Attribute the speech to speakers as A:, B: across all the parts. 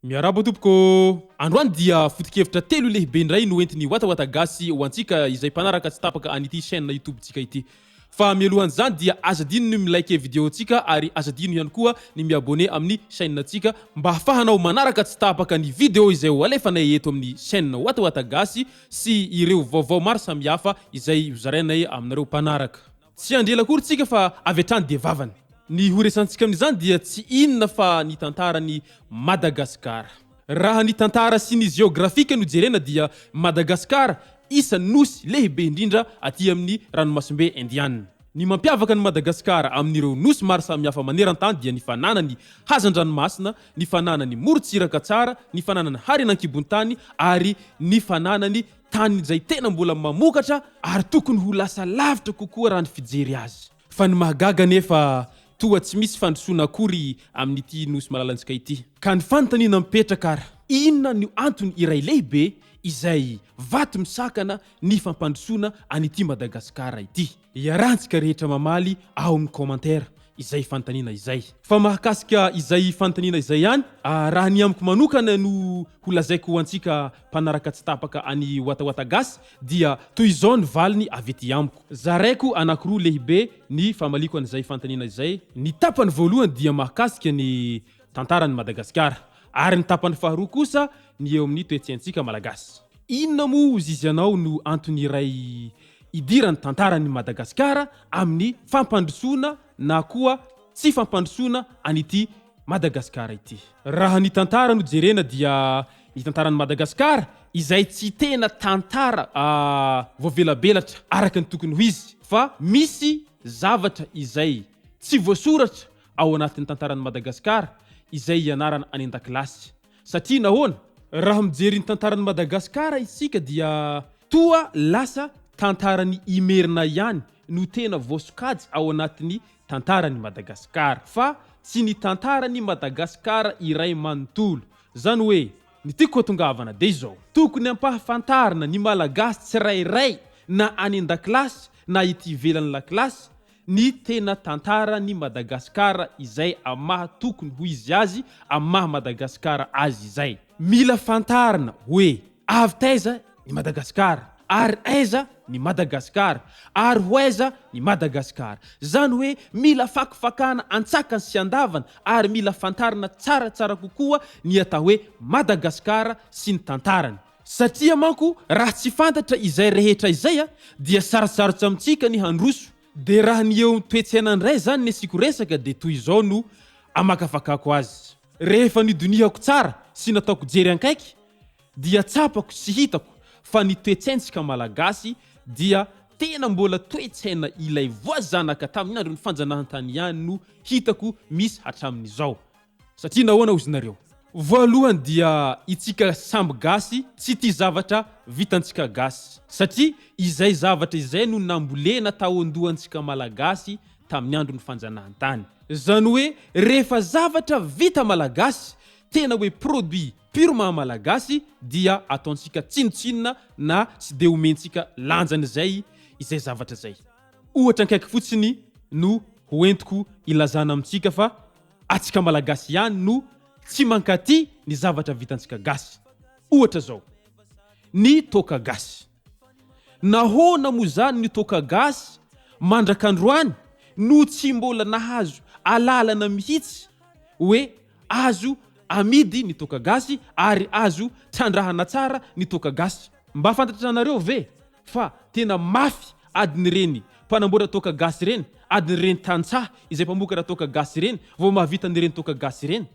A: Miarahaba tompoko ô! Androany dia foto-kevitra telo lehibe indray no entin'i Watawata Gasy ho antsika izay mpanaraka tsy tapaka an'ity chaîne YouTube-tsika ity. Fa mialohan'izany dia aza adino ny mi-liker video-tsika ary aza adino ihany koa ny mi-abonner amin'ny chaîne-tsika mba hafahanao manaraka tsy tapaka ny video izay ho alefanay eto amin'ny chaîne Watawata Gasy sy ireo vaovao maro samihafa izay hozarainay aminareo mpanaraka. Tsy handre ela akory tsika fa avy hatrany dia vavany. Ny ho resantsika amin'izany dia tsy inona fa ny tantaran'i Madagasikara. Raha ny tantara sy ny jeografika no jerena dia Madagasikara isan'ny nosy lehibe indrindra aty amin'ny ranomasimbe Indianina. Ny mampiavaka an'i Madagasikara amin'ireo nosy maro samihafa maneran-tany dia ny fananany hazan-dranomasina, ny fananany morontsiraka tsara, ny fananany harena an-kibon-tany ary ny fananany. tany izay tena mbola mamokatra ary tokony ho lasa lavitra kokoa raha ny fijery azy. Fa ny mahagaga anefa toa tsy misy fandrosoana akory amin'ity Nosy malalantsika ity. Ka ny fanontaniana mipetraka ary, inona no antony iray lehibe izay vato misakana ny fampandrosoana an'ity Madagasikara ity? Iarahantsika rehetra mamaly ao amin'ny commentaire izay fanontaniana izay. Fa mahakasika izay fanontaniana izay ihany, raha ny amiko manokana no ho lazaiko ho antsika mpanaraka tsy tapaka an'i Watawata Gasy dia toy izao ny valiny avy ety amiko. Zaraiko anankiroa lehibe ny famaliako an'izay fanontaniana izay. Ny tapany voalohany dia mahakasika ny tantaran'i Madagasikara, ary ny tapany faharoa kosa ny eo amin'ny toe-tsaintsika Malagasy. Inona moa hozy izy anao no antony iray Idiran'ny tantaran'i Madagasikara amin'ny fampandrosoana na koa tsy fampandrosoana an'ity Madagasikara ity. Raha ny tantara no jerena dia ny tantaran'i Madagasikara izay tsy tena tantara voavelabelatra araka ny tokony ho izy fa misy zavatra izay tsy voasoratra ao anatin'ny tantaran'i Madagasikara izay ianarana any an-dakilasy. Satria nahoana? Raha mijery ny tantaran'i Madagasikara isika dia toa lasa tantaran'i Imerina ihany no tena voasokajy ao anatin'ny tantaran'i Madagasikara fa tsy ny tantaran'i Madagasikara iray manontolo. Izany hoe, ny tiako hatongavana dia izao, tokony ampahafantarina ny Malagasy tsirairay na any an-dakilasy na ety ivelan'ny lakilasy ny tena tantara ny Madagascar izay am maha tokony ho izy azy am maha Madagascar azy izay. Mila fantarina hoe avy taiza ny Madagascar ary aiza ny Madagascar ary ho aiza ny Madagascar. Zany hoe mila fakifakana antsakany sy andavany ary mila fantarina tsara tsara kokoa ny atao hoe Madagascar sy ny tantarany. Satria manko raha tsy fantatra izay rehetra izay dia sarotsarotsy amintsika ny handroso, dia raha ny eo amin'ny toe-tsaina indray izany ny asiako resaka dia toy izao no amakafakako azy. Rehefa nidonihako tsara sy nataoko jery ankaiky dia tsapako sy hitako fa ny toe-tsaintsika Malagasy dia tena mbola toe-tsaina ilay voazanaka tamin'ny andron'ny fanjanahantany ihany no hitako misy hatramin'izao. Satria nahoana hozy nareo? Voalohany dia itsika samby gasy tsy tia zavatra vitantsika gasy satria izay zavatra izay no nambolena tao andohantsika malagasy tamin'ny andron'ny fanjanahantany. Zany hoe rehefa zavatra vita malagasy tena hoe produit pur maha malagasy dia ataontsika tsinontsinona na tsy dia omentsika lanjany izay izay zavatra izay. Ohatra akaiky fotsiny no ho entiko ilazana amintsika fa atsika malagasy ihany no tsy mankaty ny zavatra vitantsika gasy ohatra zao ny toaka gasy nahoana moa zany ny toaka gasy mandrakandroany no tsy mbola nahazo alalana mihitsy oe azo amidy ny toaka gasy ary azo trandrahana tsara ny toaka gasy mba fantatranareo ve Fa tena mafy adin'ireny mpanamboatra toaka gasy ireny, adin'ireny tantsaha izay mpamokatra toaka gasy ireny vao mahavita an'ireny toaka gasy ireny.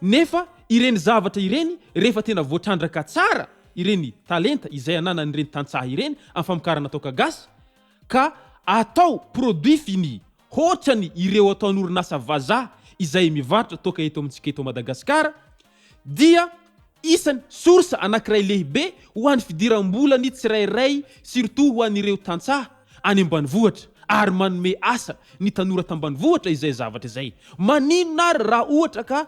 A: Nefa ireny zavatra ireny rehefa tena voatrandraka tsara ireny talenta izay ananan'ireny tantsaha ireny amin'ny famokarana toaka gasy ka atao produit fini hoatrany ireo ataon'orinasa vazaha izay mivarotra toaka eto amintsika eto Madagasikara dia isany source anankiray lehibe ho an'ny fidiram-bola ny tsirairay surtout ho an'ireo tantsaha any ambanivohitra ary manome asa ny tanora tambanivohitra izay zavatra izay. Maninona ary raha ohatra ka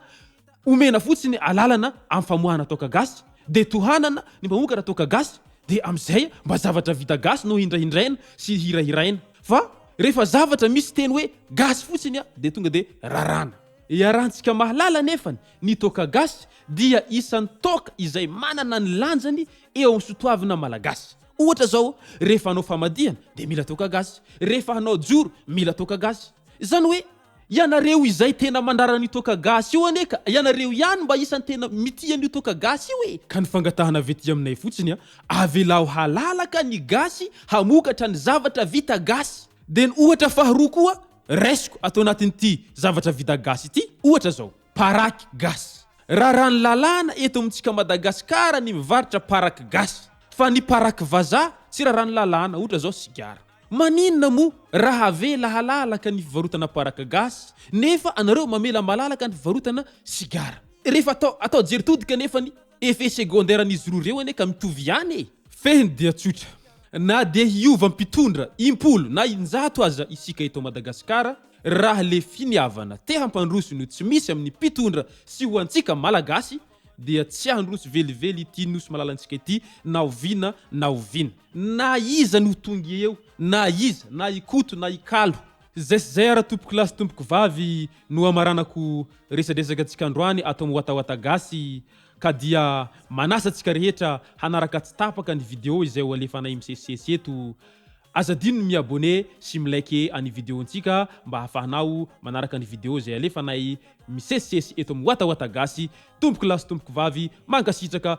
A: omena fotsiny alalana amin'ny famoahana toaka gasy dia tohanana ny mpamokatra toaka gasy dia amin'izay mba zavatra vita gasy no hindrahindraina sy hirahiraina fa rehefa zavatra misy teny hoe gasy fotsiny dia tonga dia rarana. Iharantsika mahalala anefany, ny toaka gasy dia isan'ny toaka izay manana ny lanjany eo amin'ny sotoavina malagasy. Ohatra izao, rehefa hanao famadihana dia mila toaka gasy, rehefa hanao joro mila toaka gasy. Izany hoe, ianareo izay tena mandrara an'io toaka gasy io anie ka, ianareo ihany mba isan'ny tena mitia an'io toaka gasy io e! Ka ny fangatahana avy ety aminay fotsiny an, avelaho halalaka ny gasy hamokatra ny zavatra vita gasy. Dia ny ohatra faharoa koa Raisiko ato anatin'ity zavatra vita gasy ity ohatra zao, paraky gasy. Raràn'ny lalàna eto amintsika Madagasikara ny mivarotra paraky gasy, fa ny paraky vazaha tsy raràn'ny lalàna, ohatra zao sigara. Maninona moa raha avela halalaka ny fivarotana paraky gasy nefa anareo mamela malalaka ny fivarotana sigara? Rehefa atao atao jery tody kanefany Effet secondaire an'izy roa ireo anie ka mitovy ihany e! Fehiny dia tsotra. Na dia hiova mpitondra impolo na injato aza isika eto Madagasikara, raha le finiavana te hampandroso no tsy misy amin'ny mpitondra sy ho antsika Malagasy dia tsy handroso velively ity Nosy malalantsika ity na oviana na oviana. Na iza no ho tonga eo, na iza, na i Koto na i Kalo. Zay sy zay ara tompoko lahy sy tompoko vavy no hamaranako resadresaka tsika androany ato am watawata gasy ka dia manasa tsika rehetra hanaraka tsy tapaka ny video izay ho alefanay misesisesy eto aza adino ny mi abonne sy mi like any video ntsika mba hafahanao manaraka ny video izay alefanay misesisesy eto am watawata gasy tompoko lahy sy tompoko vavy mankasitraka